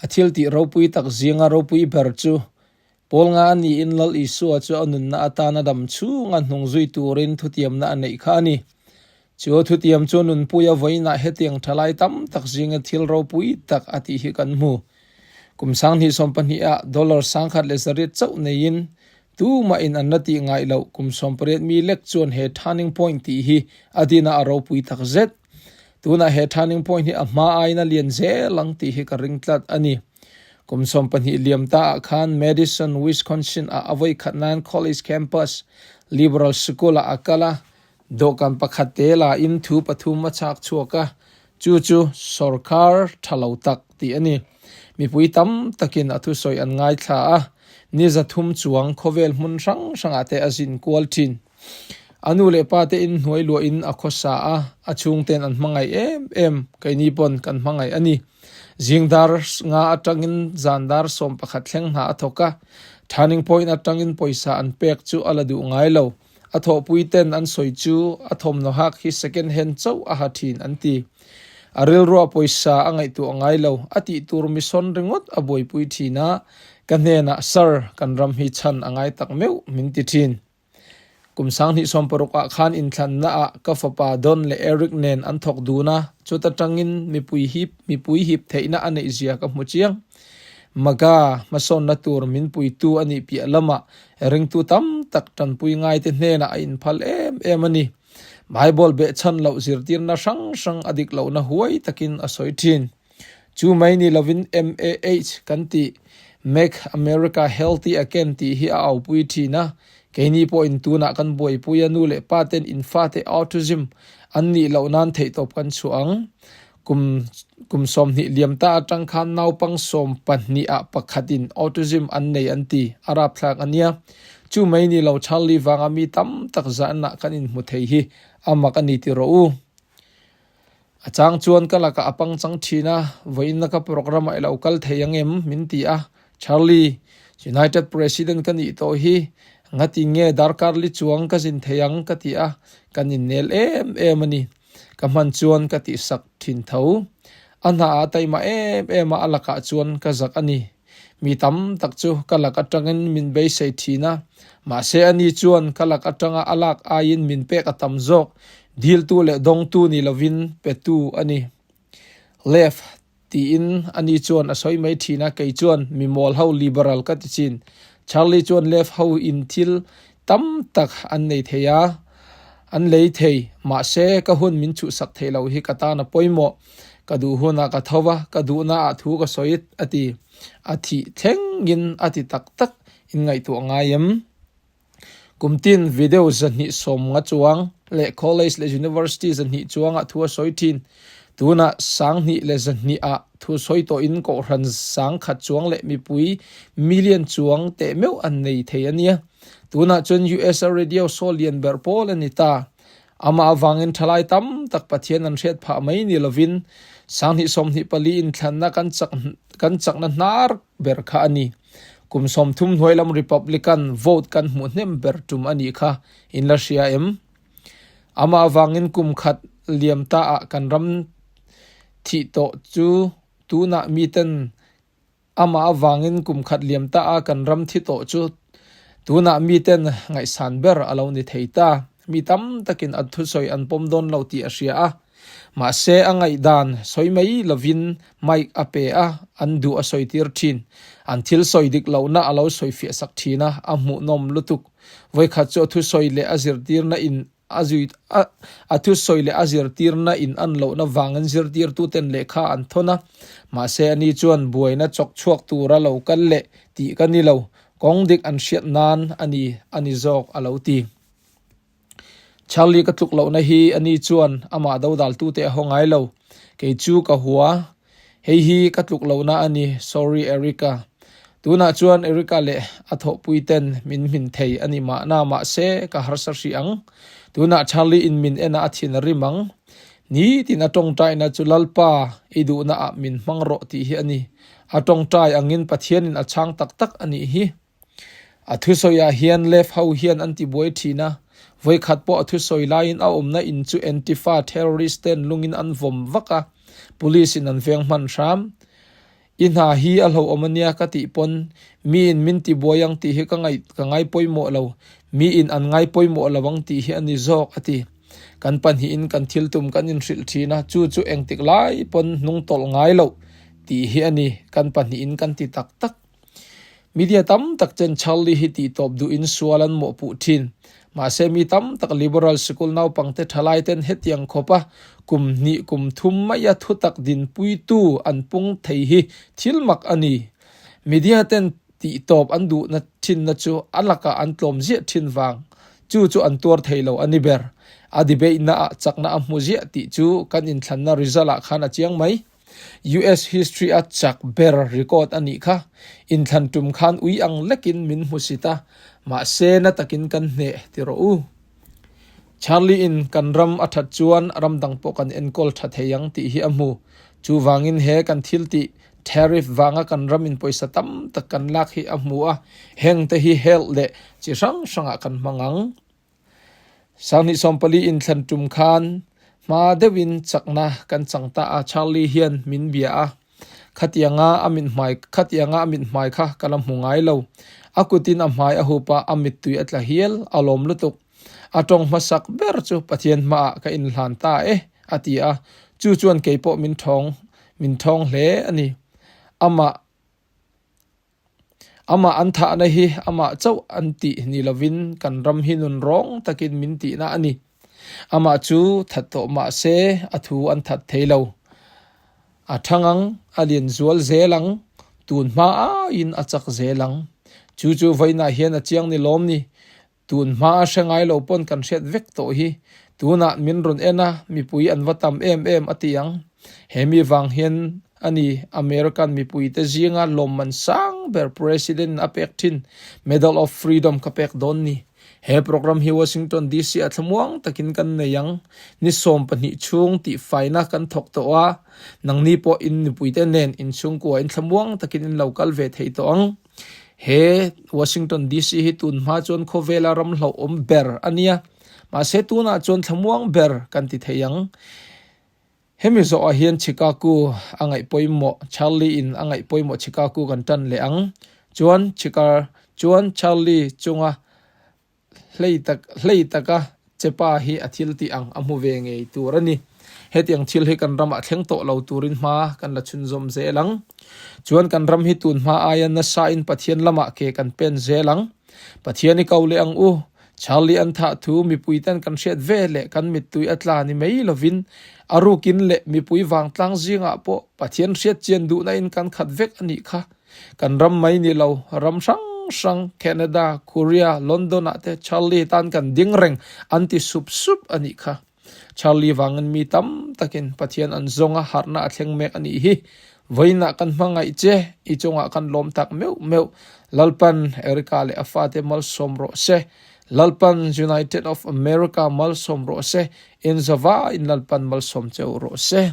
A thil tih ropui tak zinga ropui ber chu Paul nga a niin Lal Isua chu a nunna atana dam chhunga hnung zui turin thutiamna a neih kha a ni. Chu thutiam chu nunpuia vawiinah hetiang tha lai tam tak zinga thil ropui tak a tih hi kan hmu. Kum sanghnih sawm pahniha dollar sangkhat leh zariat chauh neiin tumah in an la tih ngaih loh kum sawmpariat mi lek chuan he turning point tih hi a dinah a ropui tak zet. Tunah he turning point hi a hma aiin a lian zel ang tih hi ka ring tlat a ni. Kum sawm pahnih liam ta ah khan Madison, Wisconsin ah a voikhat nan college campus liberal school ah a kal a. Dawhkan pakhat te la in thu pathum a chak chhuak a, chu chu sorkar tha lo tak tih a ni. Mipui tam tak in a thusawi an ngaithla a, ni za thum chuang khawvel hmun hrang hrang ah te a zin kual thin. A nu leh pa te in hnuai luah in a khaw sa a, a chhung ten an hmangaih em em, kei ni pawn kan hmangaih a ni. Zing dar nga atang in zan dar sawm pakhat thleng hna a thawk a, turning point atang in pawisa an pek chu a la duh ngai lo. A thawhpui ten an sawi chu a thawmhnaw hak hi second hand chauh a ha thin an ti. A rilruah pawisa a ngaihtuah ngai lo a tih tur mission ringawt a buaipui thin a, ka hnenah sir kan ram hi chhan a ngai tak meuh min ti thin. Kum sang hnihsawm parukah khan inthlannaah ka fapa Don leh Eric nen an thawk dun a, chuta tangin mipui hi mipui hip theihna a neihzia ka hmu chiang. Maga hmasawnna tur min puitu a nih piah lamah ringtu tam tak tanpui ngaite hnenah a inphal em em a ni. Bible behchhan loh zirtirna hrang hrang a dik lohna huai takin a sawi thin. Chu mai ni lovin MAH kan tih, Make America Healthy Again tih hi a aupui thin a, keini pawhin tunah kan buaipui a, nu leh pa ten in fate autism an nih loh nan theihtawp kan chhuah ang. Kum kum sawmhnih liam ta atang khan naupang sawm pahnih ah pakhat in autism an nei an ti a rapthlak a nia. Chu mai ni lo Charlie vang a mi tam tak zan ah kan in hmu thei hi a mak a ni ti rawh u. A chang chuan ka lakah a pangchang thin a, vawiinna ka programme-ah i lo kal thei ang em? min ti a. Charlie, United President ka nih tawh hi, ngatin nge darkar li chuang ka zin thei ang? ka ti a, kan innel em em a ni. Ka hman chuan ka tihsak thin tho. A hna ah a taima em em a a lakah chuan ka zak a ni. Mi tam tak chu ka lak atangin min beisei thin a, mahse ani chuan ka lak atanga a lak aiin min pek a tam zawk. Diltu leh dawngtu ni lovin petu a ni. Left, tiin ani chuan a sawi mai thin a, kei chuan mi mawl ho, liberal, ka ti chin. Charlie chuan left ho in thil tam tak an nei thei a, an lei thei, mahse ka hun min chuhsak theih loh hi ka tan a pawimawh, ka duh hunah ka tho va, ka duhna ah thu ka sawi a ti. A thih thlengin a ti tak tak, in ngaihtuah ngai em? Kum tin video zahnih sawmnga chuang leh college leh university zahnih chuangah thu a sawi thin, tunah sanghnih leh zahnih ah Thu sawi tawhin kohhran sang khat chuang leh mipui million chuang teh meuh an nei thei a nia. Tunah chuan US a radio show lian ber pawl a ni ta. Amah avangin thalai tam tak Pathian an hriat phah mai ni lovin sanghnih sawmhnih pali inthlanna kan chak kan chakna hnar ber kha a ni. Kum sawmthum hnuai lam Republican vote kan hmuh hnem ber tum a nih kha in la hria em? Amah vangin kum khat liam ta ah kan ram thih tawh chu tunah mi ten Amah vangin kum khat liam ta ah kan ram thi tawh chu tunah mi ten ngaihsan ber a lo ni thei ta. Mi tam takin an thusawi an pawm dawn lo tih a hria a. Mahse a ngaihdan sawi mai lovin mic a pe a, an duh a sawitir thin. An thil sawi dik lohna a lo sawifiah sak thin a, a hmuhnawm lutuk. Vawikhat chu a thusawi leh a zirtirna in a zui a a thusawi leh a zirtirna in an lohna vangin zirtirtuten lehkha an thawn a. Mahse a ni chuan buaina chawk chhuak tura lo kal leh tih ka ni lo, kawng dik an hriat nan a ni a ni zawk, a lo ti. Charlie ka tluk lohna hi a ni chuan amah dodaltute a haw ngai lo, kei chu ka hua Hei hi ka tluk lohna a ni, sorry Erica. Tunah chuan Erica leh a thawhpui ten min hmin thei a ni mahna mahse ka harsa hrih ang. Tunah Charlie in min en a a thinrim ang. Ni tin a tawngtaina chu Lalpa, i duhna ah min hmang rawh tih hi a ni. A tawngtai angin Pathian in a chhang tak tak a nih hi. A thusawiah hian Left ho hian an tibuai thin a, vawikhat pawh a thusawi laiin a awmna in chu Antifa terrorist ten lungin an vawm vak a, police in an veng hman hram. I hna hi a hlauhawm a nia ka tih pawn mi in min tibuai ang tih hi ka ngaih ka ngai pawimawh lo, mi in an ngai pawimawh lo ang tih hi a ni zawk, a ti. Kan pahnihin kan thiltum kan inhrilh thin a, chu chu engtik lai pawn hnung tawlh ngai loh tih hi a ni, kan pahnihin kan ti tak tak. Media tam tak ten Charlie hi tih tawp duh in sual an mawh puh thin. Mahse mi tam tak Liberal sikul naupang te thalai ten hetiang khawp a kum hnih kum thum mai a thutak dinpui tu an pung thei hi thil mak a ni. Media ten tih tawp an duhna thinna chu a lakah an tlawm ziah thin vang chu chu an tuar thei lo a ni ber. A debate na ah chakna a hmu ziah tih chu kan inthlanna result ah khan a chiang mai. US history a chak ber record a nih kha, inthlan tum khan ui ang lekin min hmu si ta, mahse na takin kan hneh ti rawh u. Charlie in kan ram a that chuan ram dang pawh kan enkawl tha thei ang tih hi a hmu, chu vangin he kan thil tih tariff vanga kan ram in pawisa tam tak kan lak hi a hmu a, hengte hi health leh chi hrang hrangah kan hmang ang. Sanghnih sawm pali in thlan tum khan hma deuh in chakna kan chang ta a, Charlie hian min bia a, khatiang a a mit hmai khatiang a a mit hmai kha ka la hmu ngai lo. A kut in a hmai a hup a, a mit tui a tla hial, a lawm lutuk. A tawng hma sak ber chu Pathian hma ah ka in hlan ta e a ti a, chu chuan kei pawh min thawng min thawng hle a ni. Amah. Amah an thahna hi amah chauh an tih ni lovin kan ram hi nun rawng takin min tihna a ni. Amah chu that tawh mah se a thu an that thei lo. A thang ang, a lian zual zel ang, tun hma aiin a chak zel ang. Chu chu vawiinah hian a chiang ni lawm ni. Tun hmaa hre ngai lo pawn kan hriat vek tawh hi, tunah min rawn en a, mipui an va tam em em a tih ang. Hemi vang hian a ni, American mipuite zinga lawm an sang ber President-in a pek thin, Medal of Freedom ka pek dawn ni. He programme hi Washington DC-ah thlamuang takin kan nei ang. Ni sawm pahnih chhung tihfaina kan thawk tawh a, nangni pawh in mipuite nen in chhungkua in thlamuang takin in lo kal ve thei tawh ang. He Washington DC hi tun hma chuan khawvela ramhlauh awm ber a nia, mahse tunah chuan thlamuang ber kan ti thei ang. Hemi zawhah hian Chicago a ngaih pawimawh, Charlie in a ngaih pawimawh Chicago kan tan leh ang. Chuan Chicar chuan Charlie chunga. Hlei tak hlei taka che pa hi a thil tih ang a hmu ve ngei tur a ni. Hetiang thil hi kan ramah thleng tawh lo turin hma kan la chhunzawm zel ang. Chuan kan ram hi tun hma aia nasain Pathian lamah ke kan pen zel ang. Pathian i ko leh ang u. Charlie an thah thu mipui ten kan hriat ve leh kan mittui a tla ni mai lovin a rukin leh mipui vangtlang zingah pawh Pathian hriatchian duhnain kan khat vek a nih kha. Kan ram mai ni lo, ram hrang hrang, Canada, Korea, London ah te Charlie tan kan ding reng an ti sup sup a nih kha. Charlie vangin mi tam takin Pathian an zawng a harhna a thleng mek a nih hi. Vawiinah kan hmangaih che, i chungah kan lawm tak meuh meuh. Lalpan Erica leh a fate malsawm rawh se. Lalpan United of America malsawm rawh se. Inzawva in Lalpan malsawm cheu rawh se.